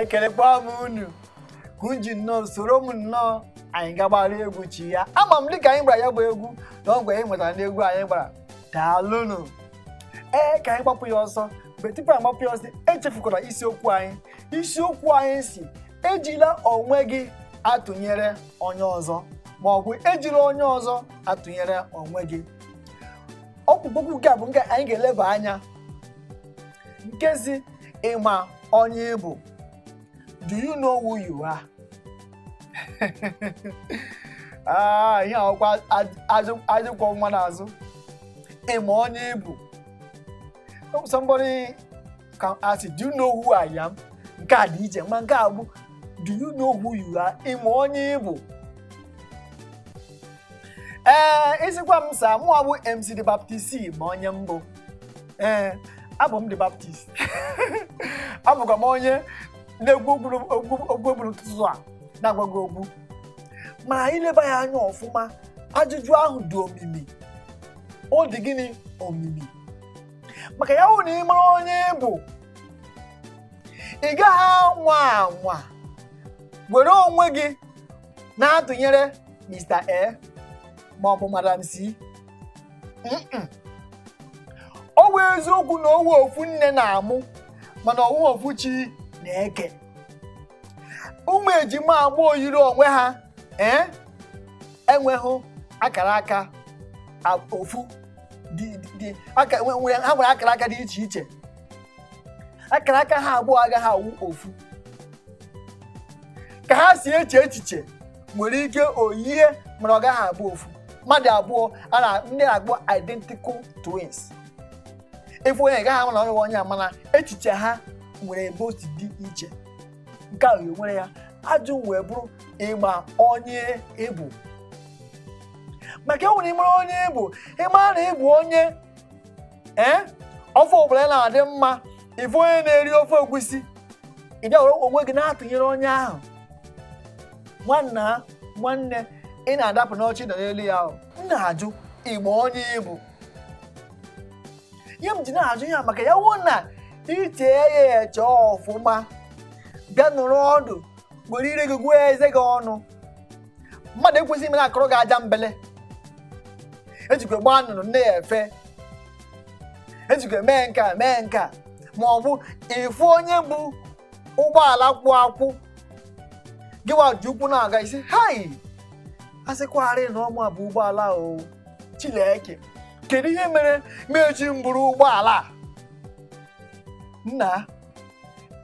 ekelekwa m unu ka unu ji nnọọ soro m nnọọ anyị gagbara egwu chi ya ama m dịka anyị gbara ya bụ egwu na ọgwụ anyị nwetara n'egwu anyị gbara daalụnụ ee ka anyị gbapụ ya ọsọ mgbe tupu anyị gbapụ ya ọsọ echefukwara isiokwu anyị isiokwu anyị si ejila onwe gị atụnyere onye ọzọ ma ọ bụ ejila onye ọzọ atụnyere onwe gị ọkpụkpụ okwu nke a bụ nke anyị ga-eleba anya nke si ị ma onye ị bụ do you know who you are ah ihe ọkwa ajụkwa nwa n'azụ ị ma onye ị bụ somebody can ask do you know who I am nke a dị iche ma nke a bụ do you know who you are ị ma onye ị bụ ee ị sịkwa m zaa mụwa bụ mc the baptist ma onye m bụ ee abụ m the baptist abụkwa m onye na-ekwu okwu eburu ụtụtụ a na-agwa gị okwu ma i leba ya anya ọfụma ajụjụ ahụ dị omimi ọ dị gịnị omimi maka ya wụ na ị mara onye ị bụ ị gaghị anwa anwa were onwe gị na-atụnyere Mr. A ma ọ bụ Madam C Mm-mm. ọ bụ eziokwu na ọ wụ ofu nne na-amụ mana ọ wụ ofu chi na-eke ụmụ ejima abụọ yiri onwe ha ee enweghị akara aka ofu ha nwere akara aka dị iche iche akara aka ha abụọ agaghị awụ ofu ka ha si eche echiche nwere ike o yie mana ọ gaghị abụ ofu mmadụ abụọ ndị a na-akpọ identical twins ị fụ onye ị gaghị ama na onye onye a mana echiche ha nwere ebe o si dị iche nke a wee nwere ya ajụ wee bụrụ ị ma onye ị bụ maka e nwere ị mara onye ị bụ ị mara na ị bụ onye ee ofe ọbụla ya na-adị mma ị fụ onye na-eri ofe egwusi ị bịa were onwe gị na-atụnyere onye ahụ nwanna nwanne ị na-adapụ n'oche nọ n'elu ya wụ m na-ajụ ị ma onye ị bụ ihe m ji na-ajụ ya maka ya wụ na i chee ya eche ọfụma bịa nọrọ ọdụ were ire gị gụọ eze gị ọnụ mmadụ ekwesịghị ime na-akụrụ gị aja mbele ejikwa gbaa nnụnụ nne ya efe ejikwa mee nke a mee nke a ma ọ bụ ị fụ onye bu ụgbọala kwụ akwụ gịwa ji ụkwụ na-aga ị sị hai asịkwarị na ọ mụa bu ụgbọala o Chineke kedu ihe mere m eji buru ụgbọala a? nna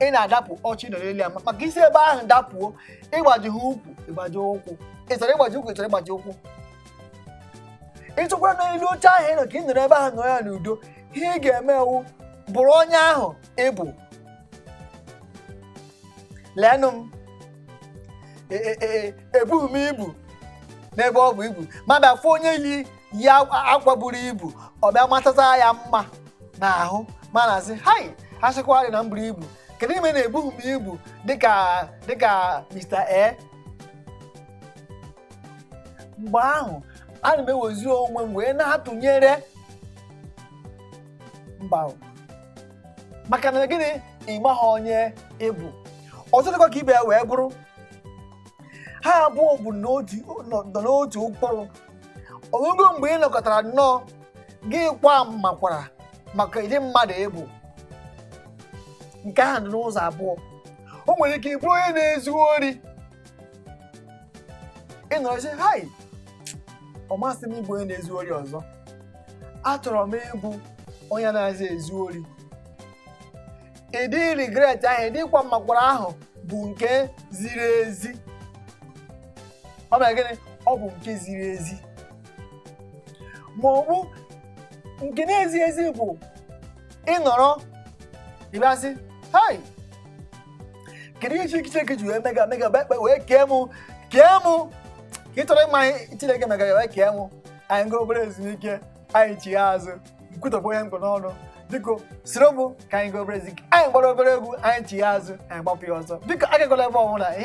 ị na-adapụ oche ị nọ n'elu ya ma- maka ị si ebe ahụ dapụ o ị gbajie ukwu ịgbaji ụkwụ ị chọrọ ịgbaji ụkwụ ị chọrọ ịgbaji ụkwụ ị chọkwara n'elu oche ahụ ị nọ ka ị nọrọ ebe ahụ nọ ya n'udo ihe ị ga-eme bụ bụrụ onye ahụ ị bụ leenụ m E- e- e- ebughị m ibu n'ebe o bu ibu m abịa fụ onye yi yi akwa akwa buru ibu ọ bịa matata ya mma n'ahụ m ana-asị hai asịkwarị na m buru ibu kedu ihe mere na ebughị m ibu dịka dịka Mr. A mgbe ahụ ana m ewezi onwe m wee na-atụnyere mba o. maka na gịnị ị maha onye ị bụ ọzọ dịkwa ka ibe ya wee bụrụ ha abụọ bụ n'otu nọ nọ n'otu ụkpụrụ o nwego mgbe ị nọkatara nnọọ gị kwaa mmakwara maka ụdị mmadụ ị bụ nke ahụ dị n'ụzọ abụọ o nwere ike ịbụ onye na-ezu ori ị nọrọ sị hai ọ masị m ịbụ onye na-ezu ori ọzọ achọrọ m ịbụ onye anazị ezu ori ụdị regret ahụ ụdị ịkwa mmakwara ahụ bụ nke ziri ezi ọ bụ gịnị ọ bụ nke ziri ezi ma ọ bụ nke na-ezighị ezi bụ ị nọrọ ị bịa sị hai kedu ihe Chineke Chineke ji wee mega mega wee kpe- wee kee mụ kee mụ ka ị chọrọ ịma ihe Chineke mega wee kee mụ anyị gaa obere ezumike anyị chigha azụ m kwutọpụ ihe m kpụ n'ọnụ biko soro m ka anyị gaa obere ezumike anyị gbara obere egwu anyị chigha azụ anyị gbapụ ya ọzọ biko agakwala ebe ọbụla ihe a